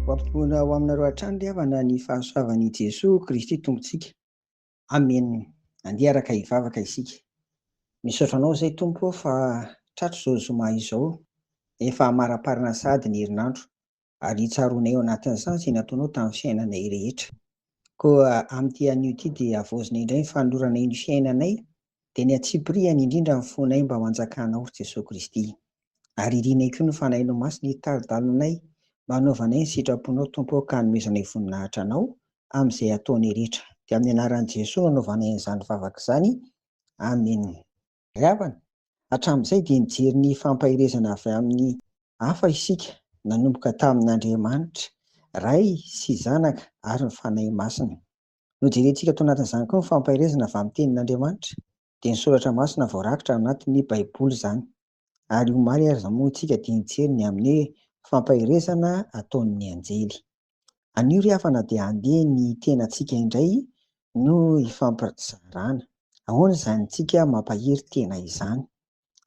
Hoampitombona ho aminareo hatrany ry havana ny fahasoavan' i Jesoa Kristy Tompontsika. Amen! Andeha araka hivavaka isika. Misaotra Anao izay Tompo ô fa tratro izao zoma izao, efa hamaraparana sahady ny herinandro. ary hitsaroanay ao anatin'ny sazy ny ataonao tamin'ny fiainanay rehetra. Koa amin'ity anio ity dia havaozina indray ny fanoloranay ny fiainanay, dia ny antsipirihany indrindra ny fonay mba ho anjakanao, ry Jesoa Kristy. Ary irinay koa ny Fanahinao Masina hitari-dalanay mba hanaovanay ny sitraponao, Tompo ô, ka hanomezanay voninahitra Anao amin'izay ataonay rehetra. Dia amin'ny anaran'i Jesoa no anaovanay an'izany vavaka izany. Amena. Ry havana, hatramin'izay dia nijery ny fampaherezana avy amin'ny hafa isika, nanomboka tamin'Andriamanitra, Ray sy Zanaka ary ny Fanahy Masina. Nojerentsika tao anatin'izany koa ny fampaherezana avy amin'ny Tenin'Andriamanitra, dia ny Soratra Masina voarakitra ao anatin'ny Baiboly izany. Ary omaly ary izao moa isika dia nijery ny amin'ny hoe fampaherezana ataon'ny anjely. Anio ry havana dia handeha ny tenantsika indray no hifampizarana. Ahoana izany tsika mampahery tena izany.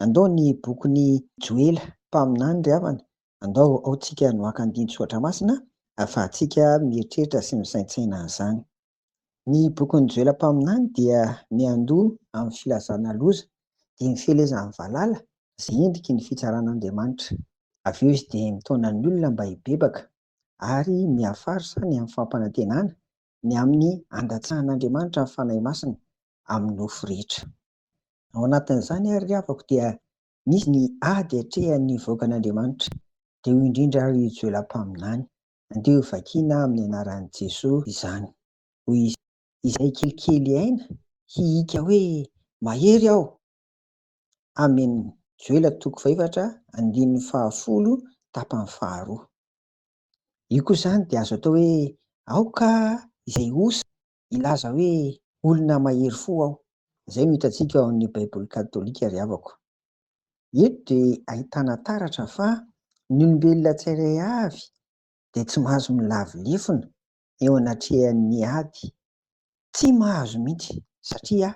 Andao ny bokin'i Joela mpaminany ry havana, andao ao tsika no haka andinin-tsoratra masina ahafahantsika mieritreritra sy misaintsaina an'izany. Ny bokin'i Joela mpaminany dia miandoha amin'ny filazana loza, dia ny fielezan'ny valala izay endriky ny fitsaran'Andriamanitra. Avy eo izy dia mitaona ny olona mba hibebaka ary miafara sahy ny amin'ny fampanantenana, ny amin'ny handatsahan'Andriamanitra ny Fanahy Masina amin'ny nofo rehetra. Ao anatin'izany àry ry havako dia misy ny ady atrehan'ny vahoakan'Andriamanitra, dia io indrindra àry io Joela mpaminany. Andeha ho vakiana amin'ny anaran'i Jesoa izany. Hoy izy, Izay kelikely aina, hihiaka hoe, Mahery aho! Amen Joela toko fahefatra andininy fahafolo tapany faharoa. Io koa izany dia azo atao hoe aoka izay osa hilaza hoe olona mahery fo aho. Izay no hitantsika ao amin'ny Baiboly katolika ry havako. Eto dia ahitana taratra fa ny olombelona tsirairay avy dia tsy mahazo milavo lefona eo anatrehan'ny ady, tsy mahazo mihitsy satria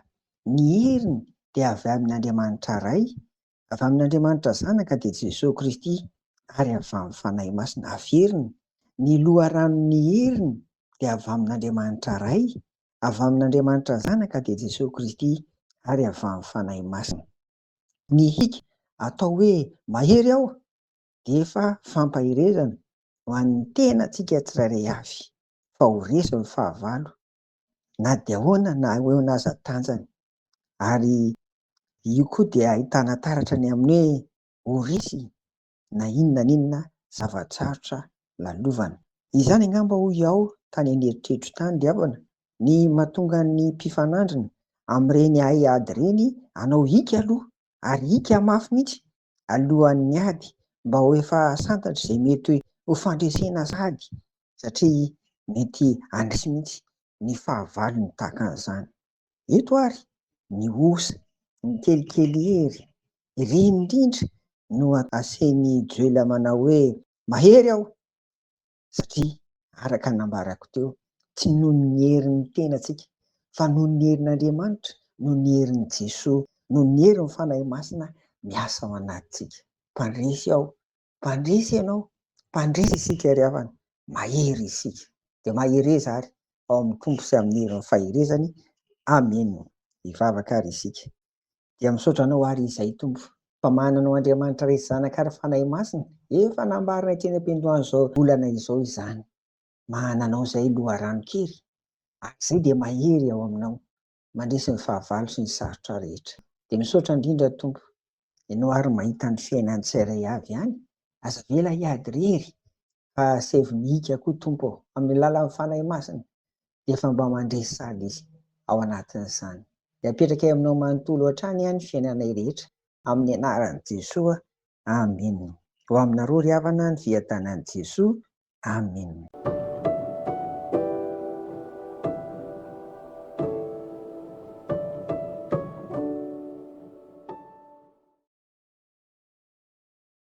ny heriny dia avy amin'Andriamanitra Ray, avy amin'Andriamanitra Zanaka dia Jesoa Kristy ary avy amin'ny Fanahy Masina averiny, ny loharanon'ny heriny dia avy amin'Andriamanitra Ray, avy amin'Andriamanitra Zanaka dia Jesoa Kristy ary avy amin'ny Fanahy Masina. Ny hic atao hoe mahery aho dia efa fampaherezana ho an'ny tenantsika tsirairay avy fa ho resy ny fahavalo na dia ahoana na ho eo aza ny tanjany ary io koa dia ahitana taratra ny amin'ny hoe ho resy na inona na inona zava-tsarotra lalovana. Izany angamba hoy aho tany an'eritreritro tany ry havana ny mahatonga ny mpifanandrina amin'ireny haiady ireny hanao hiaka aloha ary ika mafy mihitsy alohan'ny ady mba ho efa santatra izay mety ho fandresena sady satria mety handresy mihitsy ny fahavalony tahaka an'izany. Eto ary ny osa, ny kelikely hery, ireny indrindra no asehin'i Joela manao hoe mahery aho! satria araka ny nambarako teo, tsy noho ny herin'ny tenantsika fa noho ny herin'Andriamanitra, noho ny herin'i Jesoa, noho ny herin'ny Fanahy Masina miasa ao anatintsika. Mpandresy aho, mpandresy ianao, mpandresy isika ry havana, mahery isika, dia mahereza ary ao amin'ny Tompo sy amin'ny herin'ny faherezany. Amena. Hivavaka ary isika. Dia misaotra anao ary izay Tompo fa manana anao Andriamanitra Resy Zanaka ary Fanahy Masina, efa nambarina ety any am-piandohan'izao volana izao izany. Manana anao izay loharano kely ary izay dia mahery ao aminao mandresy ny fahavalo sy ny sarotra rehetra. Dia misaotra indrindra Tompo, Ianao ary mahita ny fiainan'ny tsirairay avy any, aza avela hiady irery fa asevo ny hika koa Tompo ô, amin'ny alalan'ny Fanahy Masina, efa mba mandresy sady izy ao anatin'izany. Dia apetrakay aminao manontolo hatrany aho ny fiainanay rehetra amin'ny anaran'i Jesoa. Amena. Ho aminareo ry havana ny fiadanan'i Jesoa. Amena.